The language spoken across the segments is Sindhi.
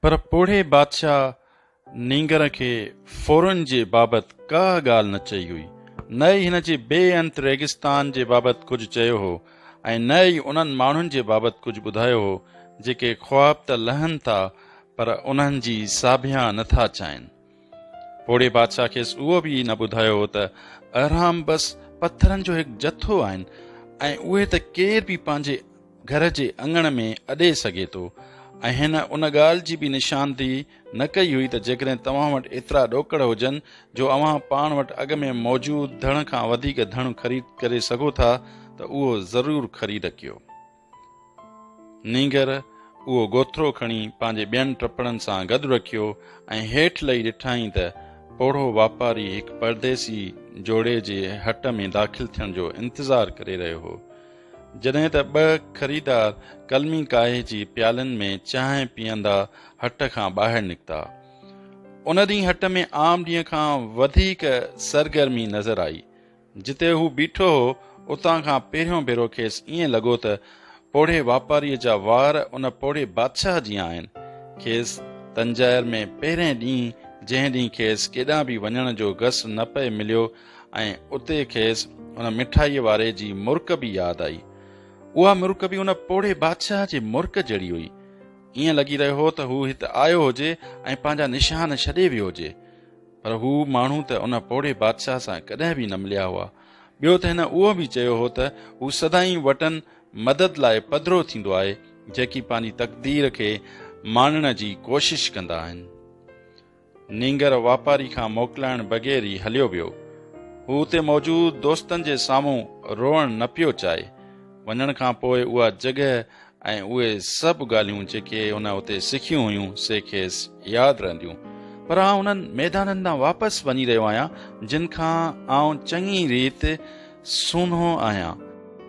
پر پوڙهي بادشاهه نينگر کي ڦورن جي بابت ڪا ڳالهه نه چئي هئي، نه ئي هن جي بي انت ريگستان جي بابت ڪجهه چيو هو ۽ نه ئي انهن ماڻهن جي بابت ڪجهه ٻڌايو هو، جيڪي خواب ته لهن ٿا پر انهن جي ساڀيان نه ٿا چائين. پوڙهي بادشاهه کيس اهو به نه ٻڌايو هو ته اهرام بس پٿرن جو هڪ جٿو آهن ۽ اهي ته ڪير به پنهنجي گهر جي اڱڻ ۾ اڏي سگهي ٿو ۽ هن ان ڳالهه جي به نشاندهي نه ڪئي هئي ته جيڪڏهن توهان وٽ ايترا ڏوڪڙ هجن جو اوهان پاڻ وٽ اڳ ۾ موجود ڌڻ کان وڌيڪ ڌڻ خريد ڪري سگهو ٿا ته اهو ضرور خريد ڪيو نينگر اهو گوٿرو کڻي پنهنجي ٻين ٽپڙن سان گڏ رکيو ۽ هيٺ لهي ڏٺائين ته پوڙهو واپاري هڪ پرديسي جوڙي جي هٽ ۾ داخل ٿيڻ جو انتظار ڪري رهيو هو. جڏهن ته ٻه خريدار قلمي ڪاهي جي پيالن ۾ چانهه پيئندا هٽ کان ٻاهر نڪتا. ان ڏينهن هٽ ۾ عام ڏينهن کان وڌيڪ سرگرمي نظر آئي. جتي هو بيٺو هو، اتان کان پهريون ڀيرو کيس ائين لڳو ته پوڙهي واپاريء جا وار ان پوڙهي بادشاهه جيان آهن. کيس تنجائر ۾ پهرئين ڏينهن، جنهن ڏينهن کيس ڪيڏانهن به وڃڻ جو گس نه پئي مليو ۽ اتي کيس ان مٺائيء واري جي مرڪ به ياد آئي. اها مرڪ به ان پوڙهي بادشاهه جي مرڪ جهڙي هئي. ائين لڳي رهيو هو ته هو هت آيو هجي ۽ پنهنجا نشان ڇڏي ويو هجي. پر هو ماڻهو ته ان پوڙهي بادشاهه سان ڪڏهن به نه مليا هئا. ٻيو ته هن اهو به چيو هو ته هو سدائين وٽن مدد لاء پڌرو ٿيندو آهي، جيڪي پنهنجي تقدير کي ماڻڻ جي ڪوشش ڪندا آهن. نينگر واپاري کان موڪلائڻ بغير ئي هليو ويو. هو اتي موجود دوستن جي سامهون روئڻ نه پيو چاهي. وڃڻ کان پوء اها جڳهه ۽ اهي سڀ ڳالهيون جيڪي هن اتي سکيون هيون سي کيس ياد رهنديون پر آئون انهن ميدانن ڏانهن واپس وڃي رهيو آهيان جن کان آئون چڱي ريت سونهو آهيان.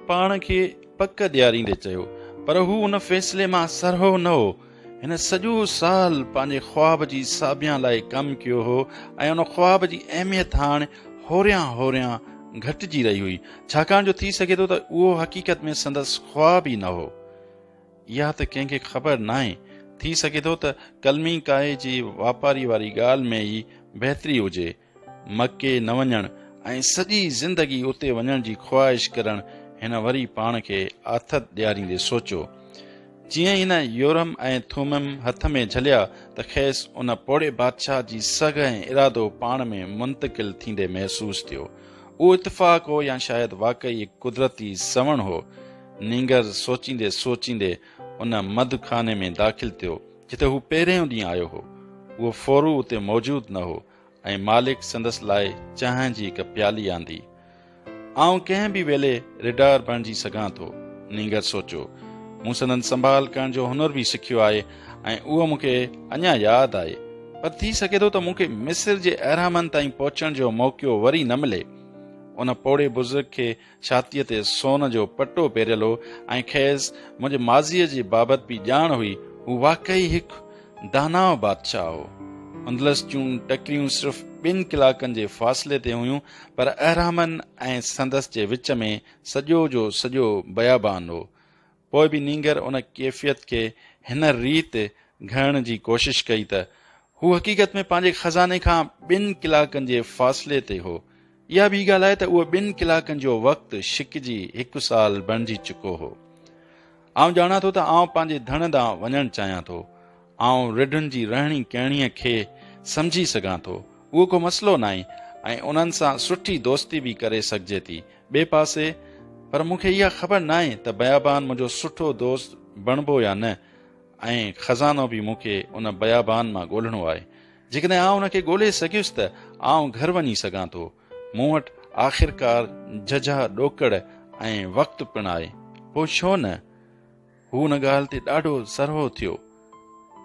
پاڻ کي پڪ ڏياريندي چيو. پر هو ان فيصلي مان سرهو نه هو. هن سڄو سال پنهنجي خواب جي ساڀيان لاء ڪم ڪيو هو ۽ ان خواب جي اهميت هاڻ هوريان هوريان گهٽجي رهي هئي، ڇاڪاڻ جو ٿي سگهي ٿو ته اهو حقيقت ۾ سندس خواب ئي نه هو. اها ته ڪنهن کي خبر ناهي، ٿي سگهي ٿو ته قلمي ڪاهي جي واپاري واري ڳالهه ۾ ئي بهتري هجي، مڪي نه وڃڻ ۽ سڄي زندگي اتي وڃڻ جي خواهش ڪرڻ هن وري پاڻ کي آٿت ڏياريندي سوچيو. جيئن ئي هن يورم ۽ ٿومم هٿ ۾ جهليا ته کيس ان پوڙهي بادشاهه جي سگهه ۽ ارادو پاڻ ۾ منتقل ٿيندي محسوس ٿيو. اهو اتفاق هو يا شايد واقعي هڪ قدرتي سوڻ هو. نينگر سوچيندي سوچيندي ان مڌ خاني ۾ داخل ٿيو جتي هو پهريون ڏينهن آيو هو. اهو ڦورو اتي موجود نه هو. ۽ مالڪ سندس لاء چانهه جي هڪ پيالي آندي. آئون ڪنهن به ويلي ريڊار بڻجي سگهان ٿو. نينگر سوچيو. مون سندن سنڀال ڪرڻ جو هنر به سکيو آهي ۽ اهو مون کي اڃا ياد آهي. پر ٿي سگهي ٿو ته مون کي مصر جي اهرامن تائين پهچڻ جو موقعو وري نه ملي. ان پوڙهي بزرگ کي ڇاتيء تي سون جو پٽو پهريل هو ۽ کيس منهنجي ماضيء جي بابت به ڄاڻ هئي. هو واقعي هڪ داناء بادشاهه هو. اندلس جون ٽڪريون صرف ٻن ڪلاڪن جي فاصلي تي هيون، پر اهرامن ۽ سندس جي وچ ۾ سڄو جو سڄو بيابان هو. پوء به نينگر ان ڪيفيت کي هن ريت گهڙڻ جي ڪوشش ڪئي ته هو حقيقت ۾ پنهنجي خزاني کان ٻن ڪلاڪن جي فاصلي تي هو. اها ٻي ڳالهه آهي ته اهو ٻن ڪلاڪن جو وقت ڇڪجي هڪ سال بڻجي چڪو هو. آئون ڄاڻان ٿو ته آئون پنهنجي ڌڻ ڏانهن وڃڻ چاهيان ٿو. آئون رڍن جي رهڻي ڪهڻيء کي سمجهي سگهان ٿو، اهو ڪو مسئلو ناهي ۽ انهن سان سٺي دوستي به ڪري سگهجي ٿي. ٻئي پاسي پر مون کي اها خبر ناهي ته بيابان منهنجو سٺو دوست بڻبو يا نه ۽ خزانو به مون کي ان بيابان مان ڳولهڻو آهي. جيڪڏهن آئون ان کي ڳولهي سگهيس ته آئون گهر وڃي سگهان ٿو. مون وٽ آخرڪار جهجها ڏوڪڙ ۽ وقت پڻ آهي. پوء ڇو نه؟ هو ان ڳالهه تي ڏاڍو سرهو ٿيو.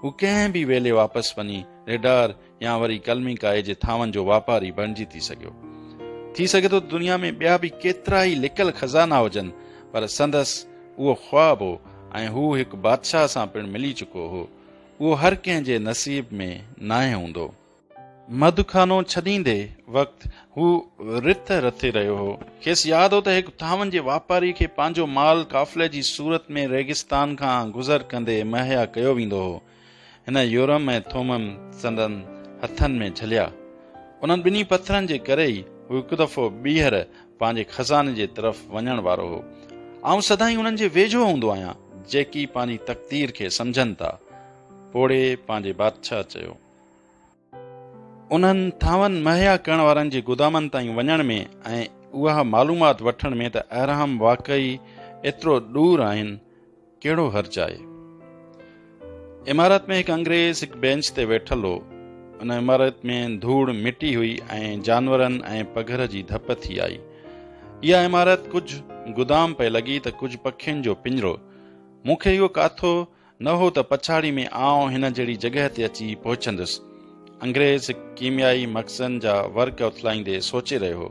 هو ڪنهن به ويلي واپس وڃي ريڊار يا وري قلمي ڪائي جي ٿانون جو واپاري بڻجي ٿي سگهيو. ٿي سگهي ٿو ته دنيا ۾ ٻيا به ڪيترا ئي لڪل خزانا هجن پر سندس اهو خواب هو ۽ هو هڪ بادشاهه سان پڻ ملي چڪو هو. اهو هر ڪنهن جي نصيب ۾ ناهي هوندو. مڌ خانو ڇڏيندي وقت هو رٿ رٿي رهيو هو. کيس ياد هو ته هڪ ٿانون جي واپاري کي پنهنجو مال قافلي جي صورت ۾ ريگستان کان گذر ڪندي مهيا ڪيو ويندو هو. هن يورم ۽ ٿومم سندن هٿن ۾ جهليا. انهن ٻنهي پٿرن جي ڪري ئي هو هڪ دفعو ٻيهر پنهنجي خزاني جي طرف وڃڻ وارو هو. آئون سدائين انهن جي ويجهو هوندو آهيان، جيڪي پنهنجي تقدير کي سمجهن ٿا. پوڙهي پنهنجي بادشاهه چيو. انهن ٿانون مهيا ڪرڻ وارن جي گودامن تائين وڃڻ ۾ ۽ اها معلومات وٺڻ ۾ ته اهرام واقعي ايترو ڏور آهن ڪهڙو حرج آهي عمارت ۾ هڪ انگريز هڪ بينچ تي ويٺل هو ان عمارت ۾ ڌوڙ مٽي هئي ۽ جانورن ۽ پگهر جي ڌپ ٿي آئي اها عمارت ڪجهه گدام پئي لڳي ته ڪجهه پکين جو پڃرو مون کي اهو ڪاٿو نه هو ته پڇاڙي ۾ آئون هن جهڙي جڳهه تي اچي پهچندس. انگريز هڪ ڪيميائي مخزن جا ورق اٿلائيندي سوچي رهيو هو.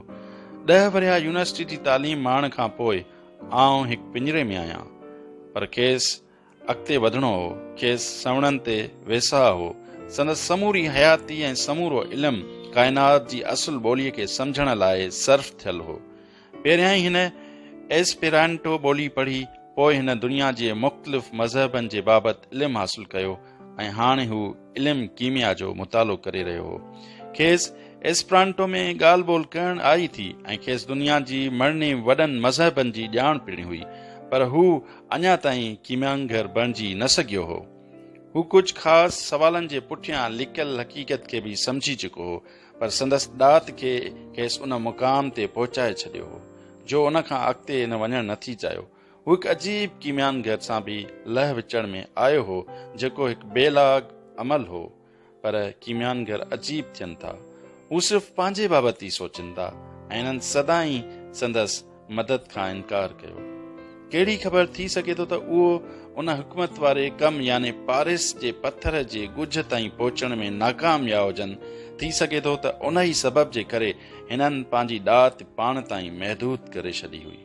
ڏهه ورهيا يونيورسٽي جي تعليم ماڻڻ کان پوء آئون هڪ پڃري ۾ آهيان. پر کيس اڳتي وڌڻو هو. کيس سنوڻن تي ويساهه هو. سندس سموري حياتي ۽ سمورو علم ڪائنات جي اصل ٻوليء کي سمجهڻ لاء صرف ٿيل هو. پهريائين هن ايسپيرانٽو ٻولي پڙهي، پوء هن دنيا جي مختلف مذهبن جي بابت علم حاصل ڪيو ۽ هاڻ هو علم ڪيميا جو مطالعو ڪري رهيو هو. کيس ايسپرانٽو ۾ ڳالهه ٻولهه ڪرڻ آئي ٿي ۽ کيس دنيا جي مڙني وڏن مذهبن جي ڄاڻ پڻ هئي، پر هو اڃا تائين ڪيميانگر بڻجي نه سگهيو هو. هو ڪجهه خاص سوالن جي پٺيان لڪل حقيقت کي به سمجهي چڪو هو، پر سندس ڏات کي کيس ان مقام تي پهچائي ڇڏيو هو، جو ان کان اڳتي هن وڃڻ نه ٿي چاهيو. هو هڪ عجيب ڪيميانگر سان به لهه وچڙ ۾ آيو هو، جيڪو هڪ بي لاگ عمل هو. پر ڪيميانگر عجيب ٿين ٿا. هو صرف پنهنجي بابت ئي سوچين ٿا ۽ انهن سدائين سندس مدد کان انڪار ڪيو. ڪهڙي خبر ٿي سگهي ٿو ته اهو ان حڪمت واري ڪم يعني پارس جي پٿر جي ڳجهه تائين پهچڻ ۾ ناڪام ويا هجن، ٿي سگهي ٿو ته انهي سبب جي ڪري هنن پنهنجي ڏات پاڻ تائين محدود ڪري ڇڏي هئي.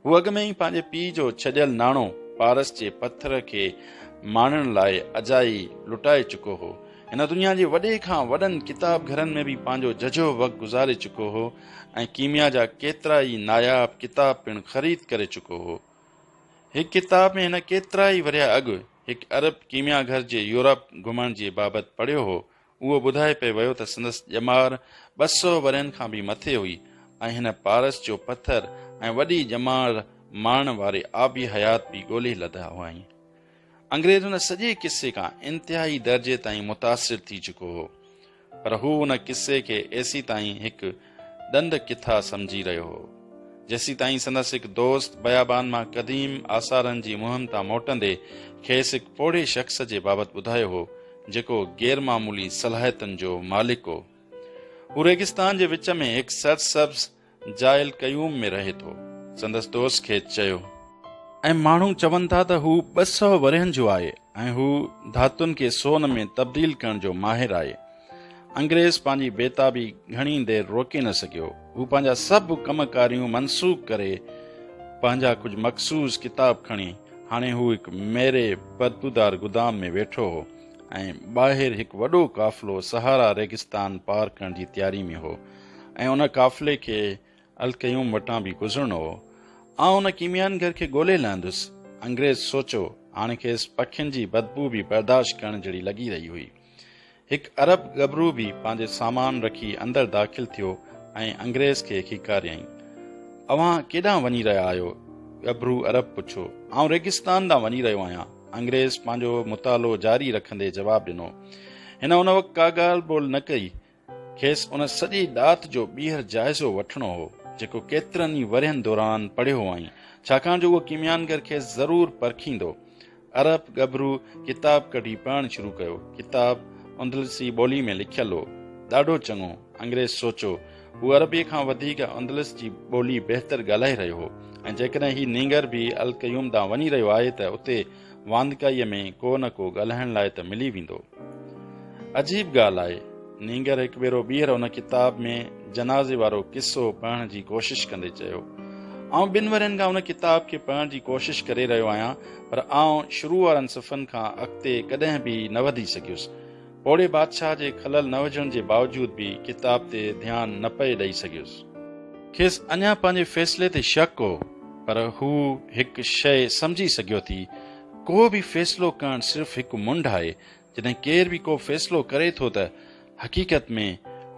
هو اڳ ۾ ئي پنهنجي پيء جو ڇڏيل ناڻو پارس جي پٿر کي ماڻڻ لاء اجائي لٽائي چڪو هو. هن دنيا جي وڏي کان وڏن ڪتاب گهرن ۾ به پنهنجو ججهو وقت گذاري چڪو هو. ۽ ڪيميا جا ڪيترا ئي ناياب ڪتاب پڻ خريد ڪري چڪو هو. هڪ ڪتاب ۾ هن ڪيترا ئي ورهيه اڳ هڪ عرب ڪيميا گهر جي يورپ گهمڻ جي بابت پڙهيو هو، اهو ٻڌائي پئي ويو ته سندس ڄمار ٻه سؤ ورهين کان به مٿي هئي ۽ هن پارس جو پٿر ۽ وڏي ڄمار ماڻڻ واري آبي حيات به ڳولي لڌا هئائين. انگريز هن سڄي قصي کان انتهائي درجي تائين متاثر ٿي چڪو هو. پر هو ان قصي کي ايسيتائين هڪ ڏند ڪٿا سمجهي رهيو هو، جيسيتائين سندس هڪ دوست بيابان مان قديم آثارن جي مهم تان موٽندي کيس هڪ پوڙهي شخص جي بابت ٻڌايو هو، جيڪو غير معمولي صلاحيتن جو مالڪ هو. هو ريگستان جي وچ ۾ هڪ سرسبز جاء القيوم ۾ رهي ٿو. سندس دوست کيس چيو. ۽ ماڻهو چون ٿا ته هو ٻه سؤ ورهين جو آهي ۽ هو ڌاتن کي سون ۾ تبديل ڪرڻ جو ماهر آهي. انگريز پنهنجي بيتابي گهڻي دير روڪي نه سگهيو. هو پنهنجا سڀ ڪم ڪاريون منسوخ ڪري پنهنجا ڪجهه مخصوص ڪتاب کڻي، هاڻي هو هڪ ميري بدبودار گدام ۾ ويٺو هو ۽ ٻاهر هڪ وڏو قافلو صحارا ريگستان پار ڪرڻ جي تياري ۾ هو. ۽ ان قافلي کي القيوم وٽان به گذرڻو هو. آئون ان ڪيميائن گهر کي ڳولي لهندس. انگريز سوچيو. هاڻ کيس پکين جي بدبوء به برداشت ڪرڻ جهڙي لڳي رهي هئي. هڪ عرب ڳڀرو به پنهنجي سامان رکي اندر داخل ٿيو ۽ انگريز کي کيڪاريائين. اوهان ڪيڏانهن وڃي رهيا آهيو؟ ڳڀرو عرب پڇيو. آئون ريگستان ڏانهن وڃي رهيو آهيان. انگريز پنهنجو مطالعو جاري رکندي جواب ڏنو. هن ان وقت ڪا ڳالهه ٻولهه نه ڪئي. کيس ان سڄي ڏات جو ٻيهر جائزو وٺڻو هو، جيڪو ڪيترن ئي ورهين دوران پڙهيو هئائين، ڇاڪاڻ جو اهو ڪيميانگر کيس ضرور پرکيندو. عرب ڳڀرو ڪتاب ڪڍي پڙهڻ شروع ڪيو. ڪتاب اندلسي ٻوليء ۾ لکيل هو. ڏاڍو چڱو، انگريز سوچيو. هو عربيء کان وڌيڪ اندلس جي ٻولي بهتر ڳالهائي رهيو هو ۽ جيڪڏهن هي نينگر به القيوم ڏانهن وڃي رهيو آهي ته اتي واندڪائيء ۾ ڪو نه ڪو ڳالهائڻ لاء ته ملي ويندو. عجيب ڳالهه آهي، نينگر هڪ ڀيرو ٻيهر ان ڪتاب ۾ جنازي وارو قصو پڙهڻ جي ڪوشش ڪندي چيو، آئون ٻن ورهين کان ان ڪتاب کي پڙهڻ جي ڪوشش ڪري رهيو آهيان، پر آئون شروع وارن صفحن کان اڳتي ڪڏهن به نه وڌي سگهيس. پوڙهي بادشاهه جي کلل نه وجهڻ جي باوجود به ڪتاب تي ڌيان نه پئي ڏئي سگهيس. کيس اڃا پنهنجي فيصلي تي شڪ هو، پر هو هڪ شيء سمجهي سگهيو ٿي، ڪو به فيصلو ڪرڻ صرف هڪ منڍ آهي، جڏهن ڪير به ڪو فيصلو ڪري ٿو ته حقيقت ۾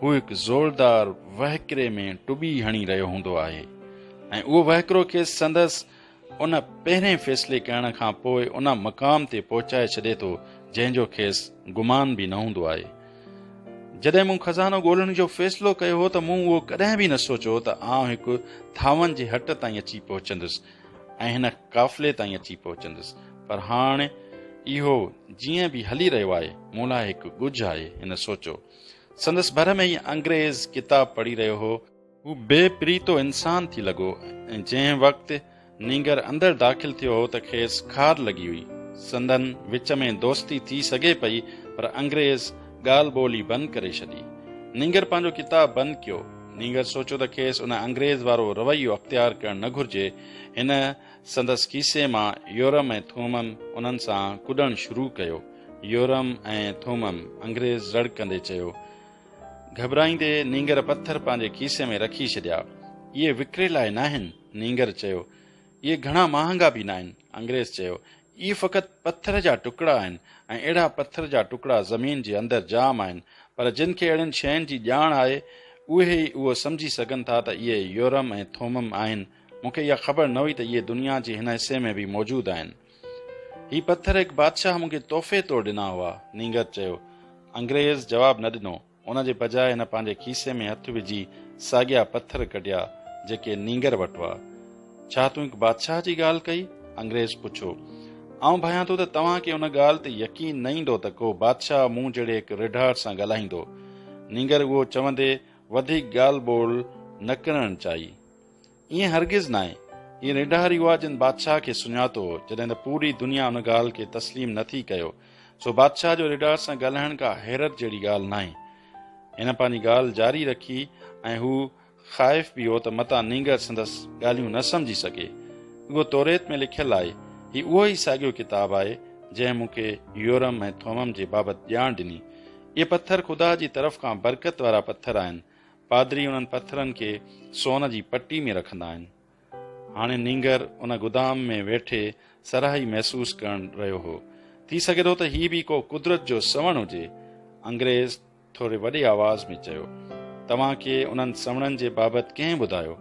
هو هڪ زوردار وهڪري ۾ ٽٻي هڻي رهيو هوندو آهي ۽ اهو وهڪرو کيس سندس ان پهرين فيصلي ڪرڻ کان پوء ان مقام تي پهچائي ڇڏي ٿو جنهن جو کيس گمان به نه هوندو آهي. جڏهن مون خزانو ڳولڻ جو فيصلو ڪيو هو ته مون اهو ڪڏهن به نه سوچيو هو ته آئون هڪ ٿانون جي هٽ تائين اچي پهچندس ۽ هن قافلي تائين اچي پهچندس پر هاڻ اهو جيئن به هلي رهيو آهي مون لاء هڪ ڳجهه آهي هن سوچيو. سندس ڀر ۾ ئي انگريز ڪتاب پڙهي رهيو هو. هو بي پريتو انسان ٿي لڳو ۽ جنهن وقت نينگر اندر داخل ٿيو هو ته کيس خار لڳي هئي. سندن وچ ۾ دوستي ٿي سگهي پئي پر انگريز ڳالهه ٻولهي بند ڪري ڇڏي. نينگر پنهنجو ڪتاب بند ڪيو. نينگر سوچيو ته کيس ان انگريز وارو رويو اختيار ڪرڻ نه گهرجي. هن سندس کيسي مان يورم ۽ ٿومم انهن سان ڪڏڻ شروع ڪيو. يورم ۽ ٿومم! انگريز رڙڪندي چيو. گهٻرائيندي نينگر پٿر پنهنجي کيسي ۾ رکي ڇڏيا. اهي وڪري لاء ناهن، نينگر چيو. اهي گهڻا مهانگا به ناهن، انگريز چيو. اهي فقط پٿر جا ٽڪڙا آهن ۽ اهڙا پٿر جا ٽڪڙا زمين جي اندر جام آهن، پر جن کي اهڙين شين جي ڄاڻ آهي، اهي ئي اهو سمجهي سگهن ٿا ته اهي يورم ۽ ٿومم آهن. مون کي اها خبر نه هئي ته اهي دنيا جي هن حصي ۾ به موجود آهن. هي پٿر هڪ بادشاهه مون کي تحفي طور ڏنا هئا، نينگر چيو. انگريز جواب نه ڏنو. ان جي بجاء هن پنهنجي کيسي ۾ هٿ وجهي ساڳيا پٿر ڪڍيا، جيڪي نينگر وٽ هئا. ڇا تون هڪ بادشاهه جي ڳالهه ڪئي؟ انگريز پڇيو. آئون ڀانيان ٿو ته توهان کي ان ڳالهه تي يقين نه ايندو ته ڪو بادشاهه مون جهڙي هڪ رڍاڙ سان ڳالهائيندو. نينگر اهو چوندي وڌيڪ ڳالهه ٻولهه نه ڪرڻ چاهي. ائين هرگز ناهي. هي ريڍاري هئا جن بادشاهه کي سڃاتو هو، جڏهن ته پوري دنيا ان ڳالهه کي تسليم نه ٿي ڪيو. سو بادشاهه جو ريڍار سان ڳالهائڻ ڪا حيرت جهڙي ڳالهه ناهي. هن پنهنجي ڳالهه جاري رکي ۽ هو خائف به هو ته متان نينگر سندس ڳالهيون نه سمجهي سگهي. اهو توريت ۾ لکيل آهي. هي اهو ئي ساڳيو ڪتاب آهي، جنهن مون کي يورم ۽ ٿومم جي بابت ڄاڻ ڏني. اهي پٿر خدا جي طرف کان برڪت وارا پٿر آهن. پادري انهن پٿرن کي سون جي پٽي ۾ رکندا آهن. هاڻي نينگر ان گدام ۾ ويٺي سرهائي محسوس ڪرڻ رهيو هو. ٿي سگهي ٿو ته هي به ڪو قدرت جو سنوڻ هجي. انگريز ٿوري وڏي آواز ۾ چيو، توهان کي انهن سنوڻن جي بابت ڪنهن ٻڌايو؟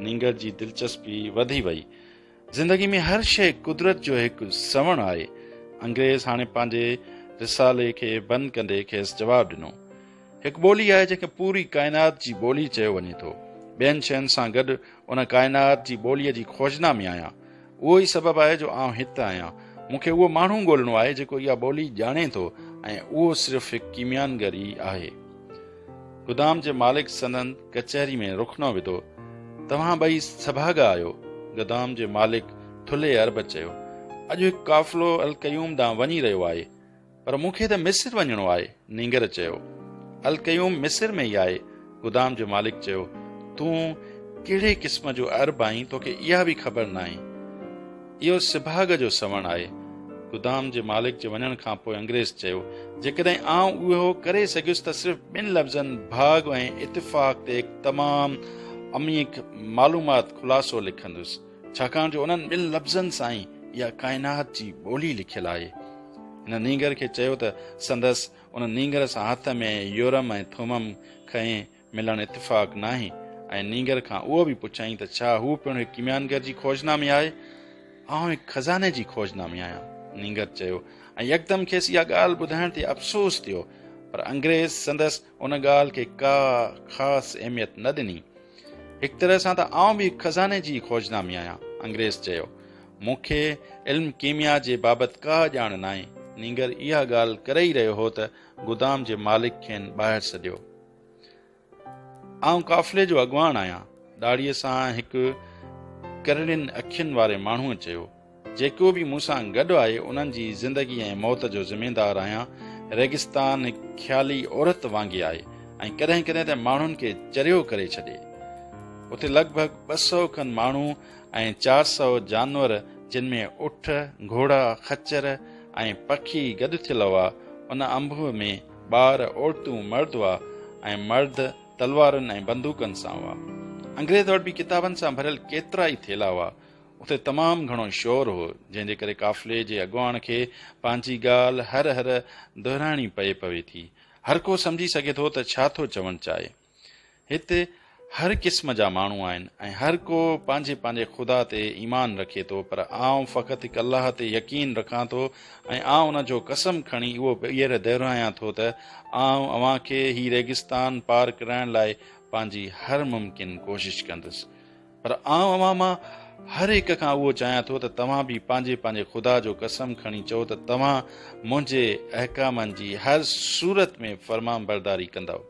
نينگر جي دلچسپي وڌي وئي. زندگي ۾ هر شيء قدرت جو هڪ سوڻ آهي. انگريز هاڻي پنهنجي رسالي کي بند ڪندي کيس جواب ڏنو. هڪ ٻولي آهي جنهن کي پوري ڪائنات جي ٻولي چيو وڃي ٿو. ٻين شين سان گڏ ان ڪائنات جي ٻوليء جي کوجنا ۾ آهيان. اهو ئي سبب آهي جو آئون هت آهيان. مون کي اهو ماڻهو ڳولڻو آهي جيڪو اها ٻولي ڄاڻي ٿو ۽ اهو صرف هڪ ڪيميانگر ئي آهي. گدام جي مالڪ سندن ڪچهري ۾ رخنو وڌو، توهان ٻئي سڀاڳا آهيو. گدام جي مالڪ ٿلهي عرب چيو، اڄ هڪ قافلو القيوم ڏانهن وڃي رهيو آهي، پر مون کي ته مصر وڃڻو آهي. نينگر چيو، القيوم مصر ۾ ئي آهي. گدام جي مالڪ چيو، تون ڪهڙي قسم جو عرب آهين، توکي اها به خبر ناهي. اهو سڀاڳ جو سوڻ آهي. گدام جي مالڪ جي وڃڻ کان پوء انگريز چيو، جيڪڏهن آئون اهو ڪري سگهيس ته صرف ٻن لفظن ڀاڳ ۽ اتفاق تي هڪ تمام عميق معلومات خلاصو لکندس، ڇاڪاڻ جو انهن ٻن لفظن سان ئي اها ڪائنات جي ٻولي لکيل آهي. هن نينگر کي چيو ته سندس ان نينگر سان هٿ ۾ يورم ۽ ٿومم کنئي ملڻ اتفاق ناهي ۽ نينگر کان اهو به پڇيائين ته ڇا هو پڻ هڪ ڪيميانگر جي کوج نامي آهي؟ آئون هڪ خزاني جي کوج نامي آهيان. نينگر چيو ۽ يڪدم کيس اها ڳالهه ٻڌائڻ تي افسوس ٿيو پر انگريز سندس ان ڳالهه کي ڪا خاص اهميت نه ڏني. هڪ طرح سان ته آئون به هڪ خزاني جي کوج نامي آهيان. انگريز چيو، مون کي علم ڪيميا جي بابت ڪا ڄاڻ ناهي. نينگر اها ڳالهه ڪري ئي رهيو هو ته گدام جي مالڪ کين ٻاهر سڏيو. آئون قافلي جو اڳواڻ آهيان ڏاڙهيء سان هڪ ڪرڙين اکين واري ماڻهوء چيو جيڪو به مون سان گڏ آهي انهن جي زندگي ۽ موت جو ذميدار آهيان ريگستان هڪ خيالي عورت وانگي آهي ۽ ڪڏهن ڪڏهن ته ماڻهن کي چريو ڪري ڇڏي اتي لڳ ڀڳ ٻه سؤ کن ماڻهو ۽ چار سؤ جانور جن ۾ اٺ گهوڙا خچر ۽ پکي گڏ ٿيل هئا ان انبوهه ۾ ٻار، عورتون، مرد هئا ۽ مرد تلوارن ۽ بندوقن سان هئا. انگريز وٽ به ڪتابن سان ڀريل ڪيترا ئي ٿيلها هئا. اتي تمام گهڻو شور هو، جنهن جي ڪري قافلي جي اڳواڻ کي پنهنجي ڳالهه هر هر دهرائڻي پئي پوي ٿي. هر ڪو سمجهي سگهي ٿو ته ڇا ٿو چوڻ چاهي. هتي هر قسم جا ماڻهو آهن ۽ هر ڪو پنهنجي پنهنجي خدا تي ايمان رکي ٿو پر آئون فقط هڪ الله تي يقين رکان ٿو ۽ آئون ان جو قسم کڻي اهو ٻيهر دهرايان ٿو ته آئون اوهان کي هي ريگستان پار ڪرائڻ لاء پنهنجي هر ممڪن ڪوشش ڪندس پر آئون اوهان مان هر هڪ کان اهو چاهيان ٿو ته توهان به پنهنجي پنهنجي خدا جو قسم کڻي چئو ته توهان منهنجي احڪامن جي هر صورت ۾ فرمانبرداري ڪندؤ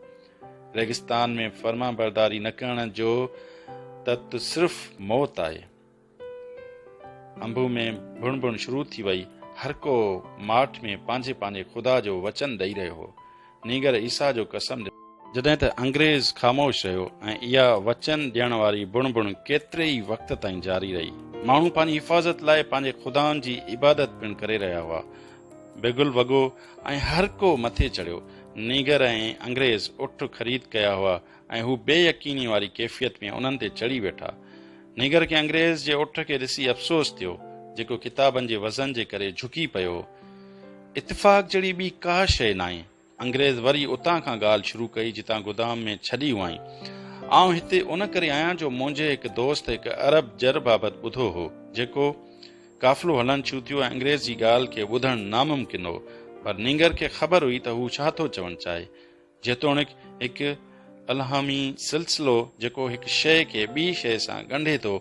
ريگستان ۾ فرمانبرداري نه ڪرڻ جو تت صرف موت آهي انبو ۾ بڻ بڻ شروع ٿي وئي هر ڪو ماٺ ۾ پنهنجي پنهنجي خدا جو وچن ڏئي رهيو هو نينگر عيسا جو قسم جڏهن ته انگريز خاموش رهيو ۽ اها وچن ڏيڻ واري بڻ بڻ ڪيتري ئي وقت تائين جاري رهي ماڻهو پنهنجي حفاظت لاء پنهنجي خدائن جي عبادت پڻ ڪري رهيا هئا بگل وڳو ۽ هر ڪو مٿي چڙهيو. نيگر ۽ انگريز اٺ خريد ڪيا هئا ۽ هو بي يقيني واري ڪيفيت ۾ انهن تي چڙهي ويٺا. نيگر کي انگريز جي اٺ کي ڏسي افسوس ٿيو، جيڪو ڪتابن جي وزن جي ڪري جهڪي پيو هو. اتفاق جهڙي ٻي ڪا شيء ناهي. انگريز وري اتان کان ڳالهه شروع ڪئي جتان گدام ۾ ڇڏي هئائين. آئون هتي ان ڪري آهيان جو منهنجي هڪ دوست هڪ عرب جر بابت ٻڌو هو جيڪو قافلو هلڻ شروع ٿيو ۽ انگريز جي ڳالهه کي ٻڌڻ ناممڪن هو پر نينگر کي خبر هئي ته هو ڇا ٿو چوڻ چاهي جيتوڻيڪ هڪ الهامي سلسلو جيڪو هڪ شيء کي ٻي شيء سان ڳنڍي ٿو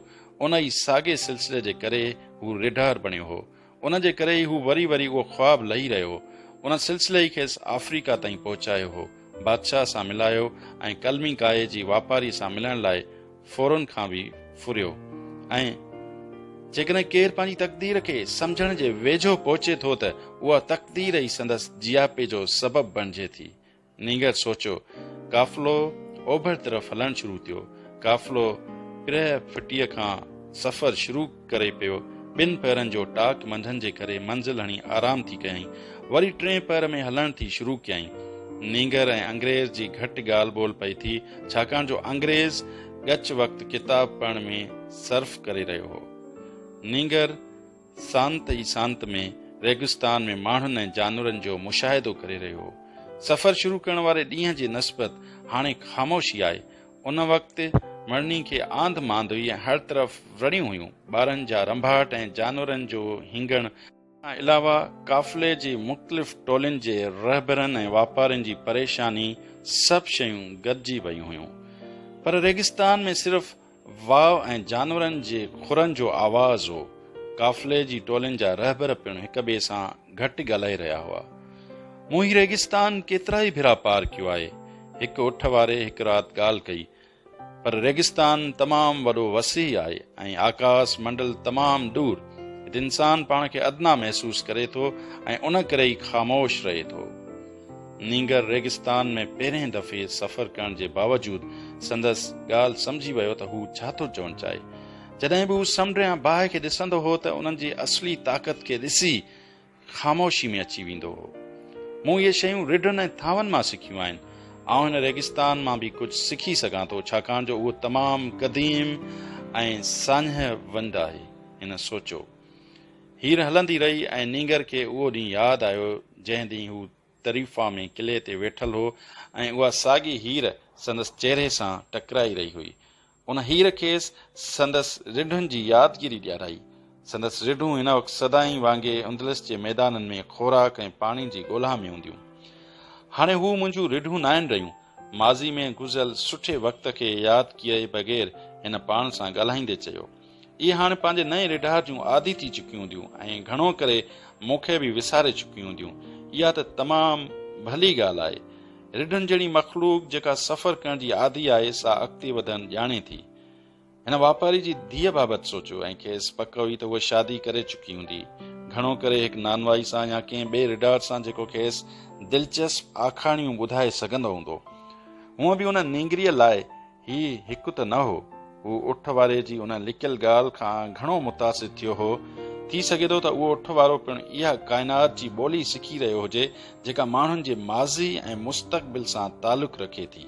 ان ئي ساڳئي سلسلي جي ڪري هو ريڍار بڻيو هو ان جي ڪري ئي هو وري وري اهو خواب لهي رهيو هو. ان سلسلي ئي کيس آفريڪا تائين پهچايو هو. بادشاهه سان ملايو ۽ قلمي ڪائي جي واپاري سان ملڻ لاء فورن کان به ڦريو ۽. جيڪڏهن ڪير پنهنجي تقدير کي سمجهڻ جي ويجهو پهچي ٿو ته اها تقدير ئي سندس جياپي جو سبب بڻجي ٿي. نينگر سوچيو. قافلو اوڀر طرف هلڻ شروع ٿيو. قافلو پرهه ڦٽيء کان سفر شروع ڪري پيو. ٻن پهرن جو ٽاڪ منڌن جي ڪري منزل هڻي آرام ٿي ڪيائين. وري ٽئين پهر ۾ هلڻ ٿي شروع ڪيائين. نينگر ۽ انگريز جي گهٽ ڳالهه ٻولهه پئي ٿي، ڇاڪاڻ جو انگريز ڳچ وقت ڪتاب پڙهڻ ۾ صرف ڪري رهيو هو. نينگر سانت ئي سانت ۾ ريگستان ۾ ماڻهن ۽ جانورن جو مشاهدو ڪري رهيو هو. سفر شروع ڪرڻ واري ڏينهن جي نسبت هاڻي خاموشي آهي. ان وقت مڙني کي آنڌ مانڌ هئي ۽ هر طرف وڙهيون هيون. ٻارن جا رنڀاٽ ۽ جانورن جو هينگڻ. کان علاوه قافلي جي مختلف ٽولين جي رهبرن ۽ واپارين جي پريشاني سڀ شيون گڏجي ويون هيون. پر ريگستان ۾ صرف واء ۽ جانورن جي کرن جو آواز هو. قافلي جي ٽولين جا رهبر پڻ هڪ ٻئي سان گهٽ ڳالهائي رهيا هئا. مون هي ريگستان ڪيترائي ڀيرا پار ڪيو آهي. هڪ اٺ واري هڪ رات ڳالهه ڪئي. پر ريگستان تمام وڏو وسيع آهي ۽ آڪاس منڊل تمام ڏور. هت انسان پاڻ کي ادنيٰ محسوس ڪري ٿو ۽ ان ڪري ئي خاموش رهي ٿو. نينگر ريگستان ۾ پهرين دفعي سفر ڪرڻ جي باوجود سندس ڳالهه سمجهي ويو ته هو ڇا ٿو چوڻ چاهي. جڏهن به هو سمنڊ يا باهه کي ڏسندو هو ته انهن جي اصلي طاقت کي ڏسي خاموشي ۾ اچي ويندو هو. مون اهي شيون رڍن ۽ ٿانون مان سکيون آهن. آئون هن ريگستان مان به ڪجهه سکي سگهان ٿو ڇاڪاڻ جو اهو تمام قديم ۽ ساڃهه ونڊ آهي. هن سوچيو. هير هلندي رهي ۽ نينگر کي اهو ڏينهن ياد آيو جنهن ڏينهن هو طريفا ۾ قلعي تي ويٺل هو ۽ اها ساڳي هير سندس چهري سان ٽڪرائي رهي هئي. ان هير کيس سندس رڍن جي يادگيري ڏيارائي. سندس رڍون هن وقت سدائين وانگي اندلس جي ميدانن ۾ خوراڪ ۽ پاڻي جي ڳولها ۾ هونديون. هاڻي هو منهنجون رڍون ناهن رهيون. ماضي ۾ گذريل سٺي وقت کي ياد ڪيئي بغير هن پاڻ سان ڳالهائيندي چيو. اهي هاڻي پنهنجي نئين ريڍار جون عادي ٿي چڪيون هونديون ۽ گهڻو ڪري مون کي به وساري چڪيون هونديون. اها ته تمام ڀلي ڳالهه آهي. ريڍن جهڙي مخلوق جيڪا سفر ڪرڻ جي عادي آهي سا اڳتي وڌڻ ڄاڻي ٿي. هن واپاري جي ڌيء بابت سوچيو ۽ کيس پڪ هئي ته هوء شادي ڪري چڪي هوندي. گهڻو ڪري هڪ نانوائي سان يا ڪنهن ٻئي ريڍار سان جيڪو کيس دلچسپ آکاڻيون ٻڌائي سگهندو هوندو. هونء به ان نينگريء لاء هي هڪ ته نه هو. هو اٺ واري جي ان لڪيل ڳالهه کان گهڻو متاثر ٿيو هو. ٿي سگهي ٿو ته اهو اٺ وارو پڻ اها ڪائنات جي ٻولي سکي رهيو هجي، جيڪا ماڻهن جي ماضي ۽ مستقبل سان تعلق رکي ٿي.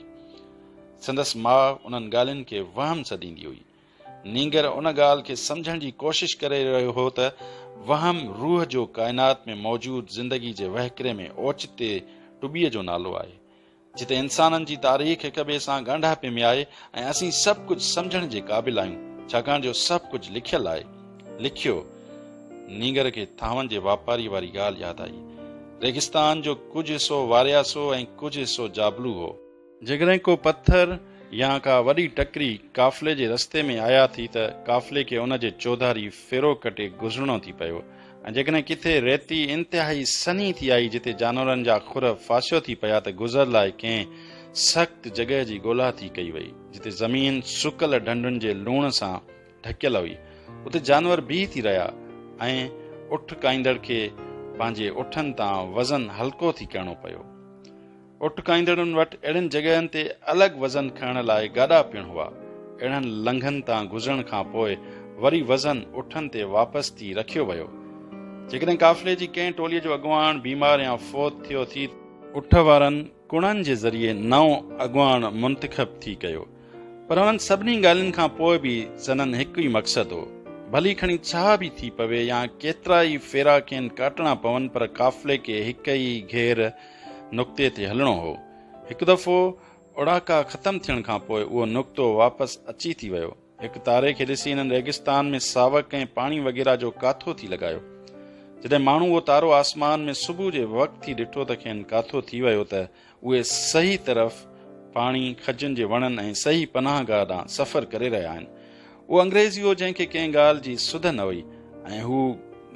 سندس ماء انهن ڳالهين کي وهم سڏيندي هئي. نينگر ان ڳالهه کي سمجهڻ جي ڪوشش ڪري رهيو هو ته وهم روح جو ڪائنات ۾ موجود زندگي جي وهڪري ۾ اوچتي ٽٻيء جو نالو آهي. جتي انسانن جي تاريخ هڪ ٻئي سان ڳانڍاپي ۾ آهي ۽ اسين سڀ ڪجهه سمجهڻ جي قابل آهيون ڇاڪاڻ جو سڀ ڪجهه لکيل آهي. لکيو. نينگر کي ٿانون جي واپاري واري ڳالهه ياد آئي. ريگستان جو ڪجهه حصو وارياسو ۽ ڪجهه حصو جابلو هو. جيڪڏهن ڪو پٿر يا ڪا وڏي ٽڪري قافلي جي رستي ۾ آيا ٿي ته قافلي کي ان جي چوڌاري ڦيرو ڪٽي گذرڻو ٿي پيو. ۽ جيڪڏهن ڪٿي ريتي انتهائي سنهي ٿي آئي جتي جانورن جا خر ڦاسيو ٿي پيا ته گذر لاء ڪنهن سخت جڳهه جي ڳولا ٿي ڪئي وئي جتي زمين سڪل ڍنڍن جي لوڻ سان ڍڪيل هئي اتي جانور بيهي ٿي رهيا ۽ اٺ ڪائيندڙ کي پنهنجي اٺن تان وزن هلڪو ٿي ڪرڻو پيو اٽڪائيندڙن وٽ اهڙين جڳهن تي الڳ وزن کڻڻ لاء گاڏا پڻ هئا. اهڙن لنگهن تان گذرڻ کان پوء وري وزن اٺن تي واپس ٿي رکيو ويو. جيڪڏهن قافلي جي ڪنهن ٽوليء جو اڳواڻ بيمار يا فوت ٿيو ٿي ته. اٺ وارن ڪڻن جي ذريعي نئون اڳواڻ منتخب ٿي ڪيو. پر انهن سڀني ڳالهين کان پوء به سندن هڪ ئي مقصد هو. ڀلي کڻي ڇا به ٿي پوي يا ڪيترا ئي ڦيرا کين ڪاٽڻا پون پر قافلي کي هڪ ئي گهير نقطي تي هلڻو هو. هڪ دفعو اوڙاڪا ختم ٿيڻ کان پوء اهو نقطو واپس اچي ٿي ويو. هڪ تاري کي ڏسي هنن ريگستان ۾ ساوڪ ۽ پاڻي وغيره جو ڪاٿو ٿي لڳايو. جڏهن ماڻهو اهو تارو آسمان ۾ صبح جي وقت ٿي ڏٺو ته کين ڪاٿو ٿي ويو ته اهي صحيح طرف پاڻي، کجن جي وڻن ۽ صحيح پناهگاهه ڏانهن سفر ڪري رهيا آهن. اهو انگريزي هو جنهن کي ڪنهن ڳالهه جي سڌ نه هئي ۽ هو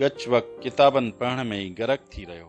ڳچ وق ڪتابن پڙهڻ ۾ ئي غرق ٿي رهيو.